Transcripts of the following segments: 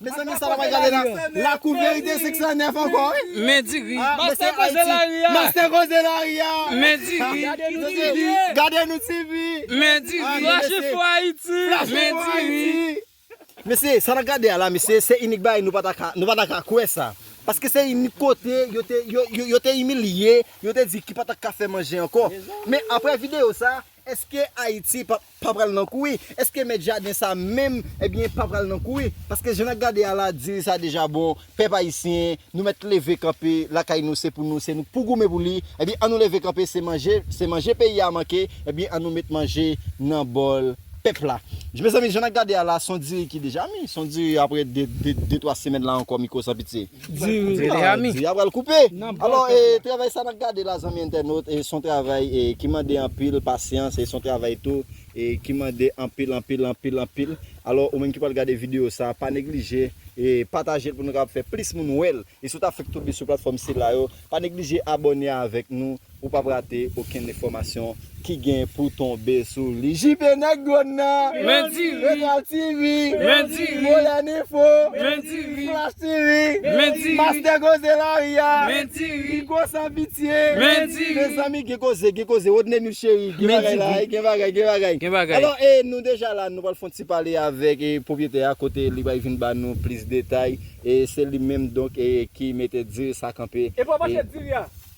Mezanmi sa pral gade la lakou verite 509 ankò wi. Men di ri. Mastè koze lari a. Mastè koze lari a. Men di ri. Gade nou ti vi. Gade nou ti vi. Men di ri. Flash info Haiti. Flash info Haiti. Mesye sa nap gade a la mesye se inik bagay nou pata ka kwè sa paske se inik kote yo te imilye yo te di ki pata ka fè manje ankò men aprè video sa Eske Ayiti pa pa pral nan kouri? Eske mèt jaden sa menm ebyen pa pral nan kouri? Paske jan nap gade a la diri sa deja bon, pèp ayisyen nou mèt leve kanpe lakay nou se pou nou se nou pou goumen pou li, ebyen an nou leve kanpe se manje se manje peyi a manke ebyen an nou met manje nan bòl pèp la. Mezanmi jan nap gade a la son diri ki deja mi, son diri aprè de twa semèn la ankò mi ko san pitye. Diri Diri ami. Diri a pral koupe. Alò e travay sa nap gade la zanmi entènot e son travay e ki mande anpil pasyans e son travay tou e ki mande anpil anpil anpil anpil alò ou menm ki pral gade video sa pa neglije e patajel pou nou kapab fè plis moun wèl e si ou ta fèk tonbe sou platfòm sila yo pa neglije abòne avèk nou Ou pap rate okenn enfòmasyon ki gen pou tonbe sou li. JP nèg dwòn nan! Men diri! Etoile TV! Men diri! Modern Info! Men diri! Flash TV! Men diri! Mastè Koze Lari a! Men diri! Rico San Pitye! Men diri! Mezanmi gen koze, gen koze! Rodneymill Chéri, gen bagay la wi! Gen bagay, gen bagay! Gen bagay! Alò, e nou deja la, nou pral fon ti pale avèk pwoprietè a kote li pral vin ba nou plis detay. E se li menm donk ki mete diri sa kanpe. E pou a mache diri a!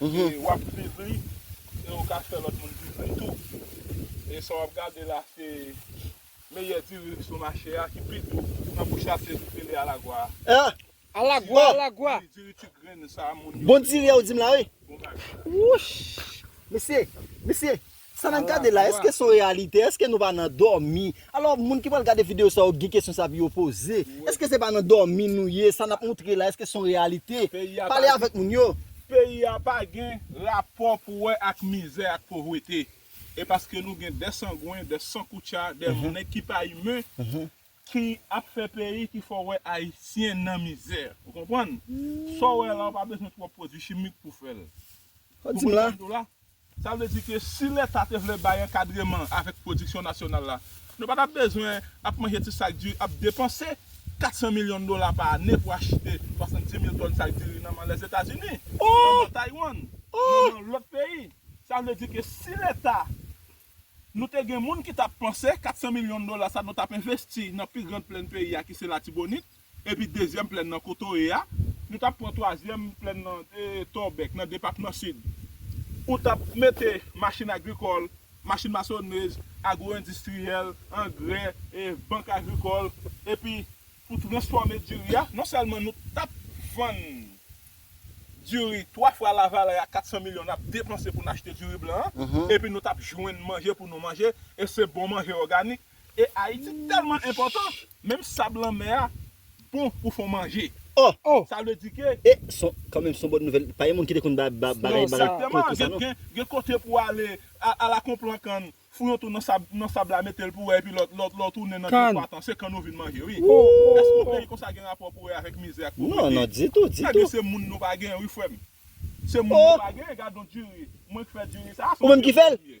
e wap k viv li e ou ka fè lòt moun viv li tou e sa wap gade la se meyè diri ki sou mache a ki pi dou nan bouch la se li rele alagwa a alagwa alagwa wi diri ti grenn sa moun yo bon diri a ou dim la wi bon bagay wouch mesye mesye. Sa nap gade la eske son reyalite eske nou pa nan dòmi alò moun ki pral gade video sa yo gen kesyon sa pou yo poze eske se pa nan dòmi nou ye sa nap moutre la eske son reyalite pale avèk moun yo. Peyi a pa gen rapò pou wè ak mizè ak povrete e paske nou gen de sangwen de sankoutcha de nèg ki pa imen ki ap fè peyi ki fè w wè ayisyen nan mizè ou konprann sa w wè la ou pa bezwen twòp pwodwi chimik pou w fè l ou konprann sa m di w la. Sa vle di ke si leta te vle bay ankadreman avèk pwodiksyon nasyonal la, nou pa tap bezwen ap manje ti sak diri, ap depanse 400 milyon dola pa ane pou achite 70 mil tòn sak diri nan man Lèzetazini, nan man Taywann, nan man lòt peyi. Sa vle di ke si leta nou te gen moun ki tap panse 400 milyon dola sa nou tap envesti nan pi grand plèn peyi a ki se Latibonit, Epi dezyèm plèn nan kote w ye a. Nou t ap pran twazyèm plèn nan de Torbeck, nan depatman Sid. Ou t ap mete machin agrikòl, machin masonnej, agwoendistriyèl, angrè, bank agrikòl, epi pou transfòme diri a. Non sèlman nou t ap vann diri twa fwa lavalè a 400 milyon n ap depanse pou n achte diri blan an, epi nou t ap jwenn manje pou nou manje, e se bon manje òganik. E Ayiti tèlman enpòtan, menm sab lanmè a bon pou fon manje. Oh! Sa vle di ke. E, son, kanmenm son bòn nouvèl. Pa gen moun ki te konn ba, ba, bagay, bagay konsa non. Egzakteman. Gen, gen kote pou w ale, a, ala kon plan kann, fou yon tou nan sab, nan sab la, mete l pou wè epi lè w, lè w, lè w tounen nan gran pwa tan, se kann ou vin manje wi. Èske yon peyi konsa gen rapò pou wè avèk mizè ak povrete? Non, non, ditou, ditou. Ebyen se moun nou pa gen wi frè m. Se moun nou pa gen, gadon diri. Mwen k fè diri sa a, se yon diri mwen ye. Ou menm ki fè l?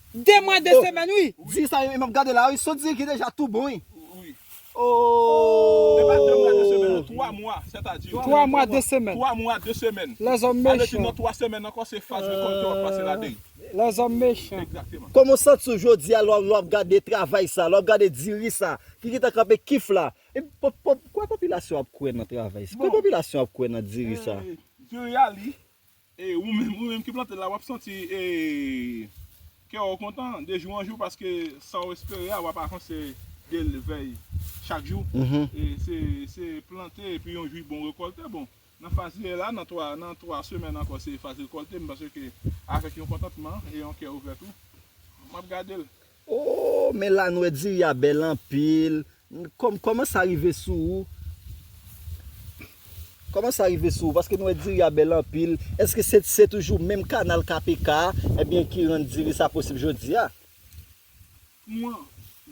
2 mwa 2 semèn wi. Di sa yo e map gade la wi sot di ki deja tou bon wi oohh. 3 mwa 2 semèn. Lèzòm mechan. Lèzòm mechan. Kòman w santi w jodia lè wap gade travay sa lè wap gade diri sa ki gentan kanpe kif la. Pòp pòp kòman popilasyon ap kwè nan travay sa kòman popilasyon ap kwè nan diri sa. E ou menm, ou menm ki plante l la, w ap santi e kè w kontan de jou an jou paske sa w espere a w ap avanse de l vèy chak jou. E se se plante epi yon jou bon rekòlte. Bon, nan faz li ye la, nan 3 nan 3 semèn ankò se faz rekòlte, m panse ke avèk yon kontantman e yon kè ouvè tou, m ap gade l. Ooh men lanwè diri a bèl anpil Kòm kòman sa rive sou ou Kòman sa rive sou ou paske nou wè diri a bèl anpil Èske se se toujou menm kanal KPK a ebyen ki rann diri sa posib jodi a? Kman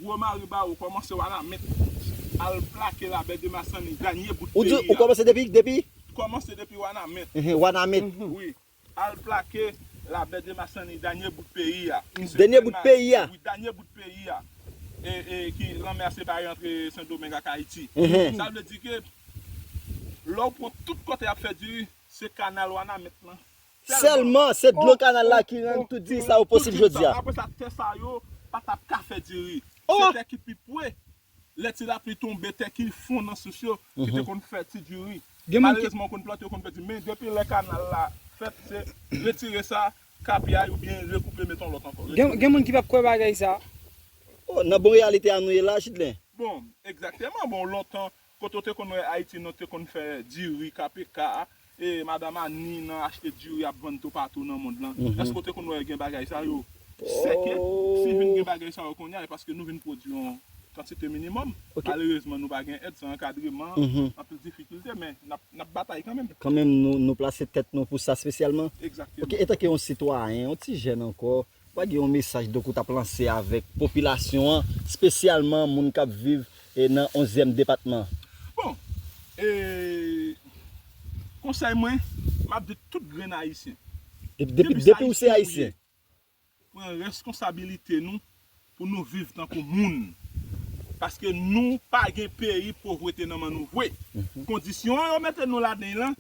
gwo mari ba ou kòmanse wa la met al plake la bè de masanni danye bout peyi a. Ou kòmanse depi depi? Kòmanse depi wanament. Wanament. Wi. Al plake la bè de masani danye bout peyi a ki se Dènye bout Grenad peyi a. wi danye bout peyi a e e ki lanmè a separe antre sendomeng ak ayiti sa vle di ke lè w pran tout kote yap fè diri se kanal wanament lan sèlman Sèlman se dlo oh kanal la oh ki rann oh tout ki diri sa rann yo tout posib diri sa jodi a. apresa tè sa yo patap ka fè diri se Oh! tè ki pi pwe lè ti lapli tonbe tè ki fon nan sous yo ki te konn fè ti diri malerezman yo konn plante yo konn pèdi men depi lè kanal la fèt se retire sa ka piyay oubyen rekoupe met yon lòt ankò retire Gen moun ki pap kwè bagay sa. Oh nan bon reyalite a nou ye la Jidelin. Bon egzakteman bon lontan kote w te konn wè Ayiti nan te konn fè diri, KPK. E madam Annie nan achte diri ap vann toupatou nan mond lan. Èske ou te konn wè gen bagay sa yo? Sèke, si vin gen bagay sa yo kounye a, e paske nou vin pwodui yon kantite minimòm. Malerezman, nou pa gen èd, san ankadreman, anpil difikilte, men n ap batay kanmenm. Kanmenm, nou plase tèt nou pou sa spesyalman? Egzakteman. Ok, etanke yon sitwayen, yon ti jèn ankò, Pa gen yon mesaj donk ou tap lanse avèk popilasyon an, spesyalman moun kap viv nan onzyèm depatman? Bon, e konsèy mwen, map di tout grenn ayisyen, depi se ayisyen nou ye, pran reskonsabilite nou pou nou viv tankou moun, paske nou pa gen peyi povrete nan men nou vwe, kondisyon yo mete nou ladan lan,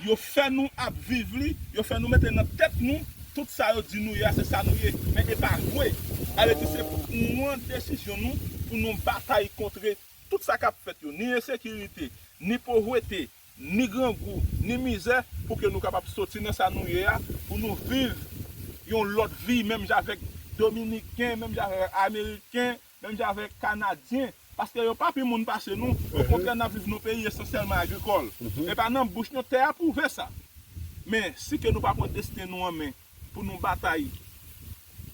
Yo fè nou ap viv li, yo fè nou mete nan tèt nou tout sa yo di nou ye a se sa nou ye, men e pa vwe. A vle di se pwan desizyon nou pou nou batay kontre tout sa kap fèt yo, ni ensekirite, ni povwete, ni grangou, ni mizè pou ke nou kapab soti nan sa nou ye a pou nou viv yon lòt vi menm jan avèk dominiken, menm jan avèk ameriken, Menm jan avèk Kanadyen, paske yo pa pi moun pase nou, okontrè n ap viv nan peyi esansyèlman agrikòl. E pa nan bouch nou, tè a pwouve sa. Men, si ke nou pa pran desten nou an men pou nou batay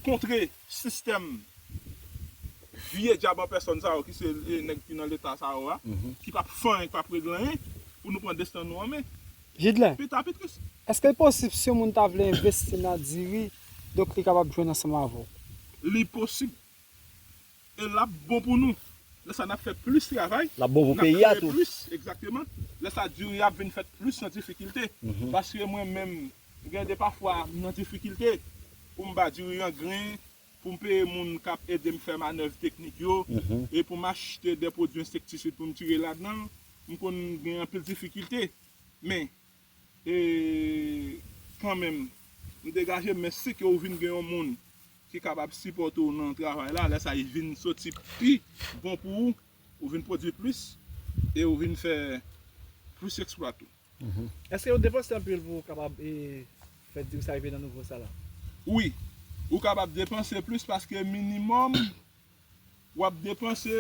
kontre sistèm vye dyab an pèsòn sa yo ki se nèg ki nan Leta sa yo a, ki pa p fè anyen, ki pa p regle anyen, pou nou pran desten nou an men, Jidlen, pita pi tris. Èske l posib si yon moun ta vle envesti nan diri, donk li kapab jwenn ansanm avè w? Li posib. E lap bon pou nou. Lè sa nap fè plis travay. Lap bon pou peyi a tou. Nap kreye plis, egzakteman. Lè sa diri a ap vin fèt plis nan difikilte. Paske mwen menm, gen de pafwa m nan difikilte pou m ba diri an gren, pou m peye moun kap ede m fè manèv teknik yo, e pou m achte de pwodui ensektisid pou m tire ladan l, m konn gen anpil difikilte. Men, E kanmenm, m degaje m, men si ke ou vin gen yon moun ki kapab sipòte ou nan travay la, lè sa li vin soti pi bon pou ou, ou vin pwodui plis, e ou vin fè plis eksplwa tou. Èske ou depanse anpil pou ou kapab fè diri sa rive nan nivo sa la? Wi, ou kapab depanse plis paske minimòm wap depanse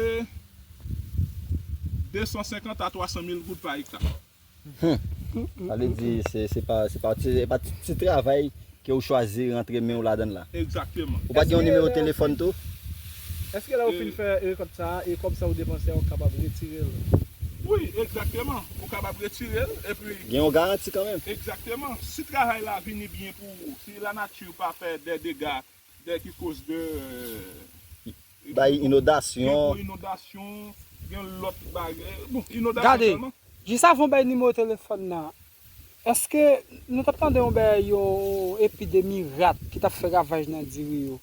250 a 300 mil goud pa ekta. Humm sa vle di se pa se pa se pa ti ti travay ke ou chwazi rantre menw ladann la. Egzakteman. Ou pa gen yon nimewo telefòn tou? Eske lè ou fin fè rekòt sa a e kòb sa ou depanse a ou kapab retirel? Wi egzakteman, ou kapab retirel epi. Gen yon garanti kanmenm? Egzakteman, si travay la vini byen pou ou, si lanati pa fè dè dega Dèyè ki koz de. Bay inodasyon. Gen gwo inodasyon, gen lòt bagay. Bon, inodasyon sèlman. Gade, jis avan w bay nimewo telefòn nan, èske nou t ap tande yon bagay, yon epidemi rat ki t ap fè ravaj nan diri yo?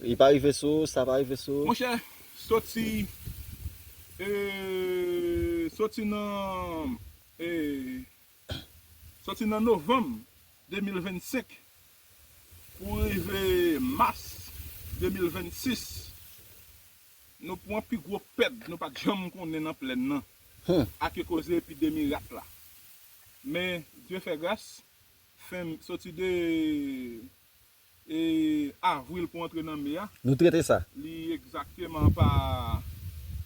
Li pa rive sou ou, sa pa rive sou ou? Monchè, soti, soti nan, Soti nan novanm 2025 pou rive mas 2026, nou pran pi gwo pèd nou pat janm konnen nan plèn nan ake koze epidemi rat la. Men, Dye fè gras, fen, soti 2. E Avril pou antre nan Me a. Nou trete sa. Li egzakteman pa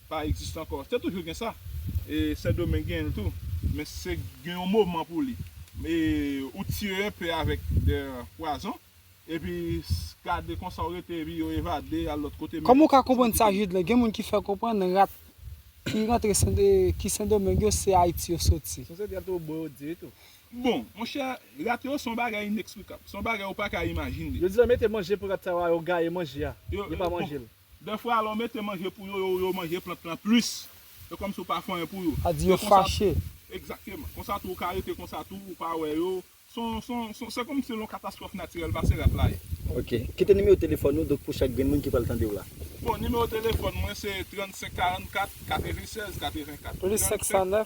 pa egziste ankò. Te toujou gen sa. E Sendomeng genyen l tou. Men se gen yon moman pou li. E ou tire enpe avèk de pwazon. Epi gade konsa ou rete epi yo evade al lòt kote. Kòman ou ka konprann sa Judelin? Gen moun ki fè konprann rat ki rantre ki Sendomeng yo se Ayiti yo soti. Sou se gen tou bourik di tou. Bon, monchè, rat yo se yon bagay inexplicable. Se yon bagay ou pa ka imajine. Yo di lè mete manje pou rat sa yo a, yo gaye manje a. Yo, Yo pa yo, bon, manje l. dèfwa lè ou mete manje pou yo, yo, yo manje plant lan plis. Se kòmsi ou pa fè anyen pou yo. A di yo E konsa tou, fache. egzakteman, konsa tou ou ka rete konsa tou, ou pa wè yo. Se yon, se yon, se yon, se kòmsi se yon katastwòf natirèl pase rat la ye. Ok. Kite nimewo telefòn ou, donk pou chak grenn moun ki pral tande w la. Bon, nimewo telefòn mwen se 35 44 96 84. Plis 509,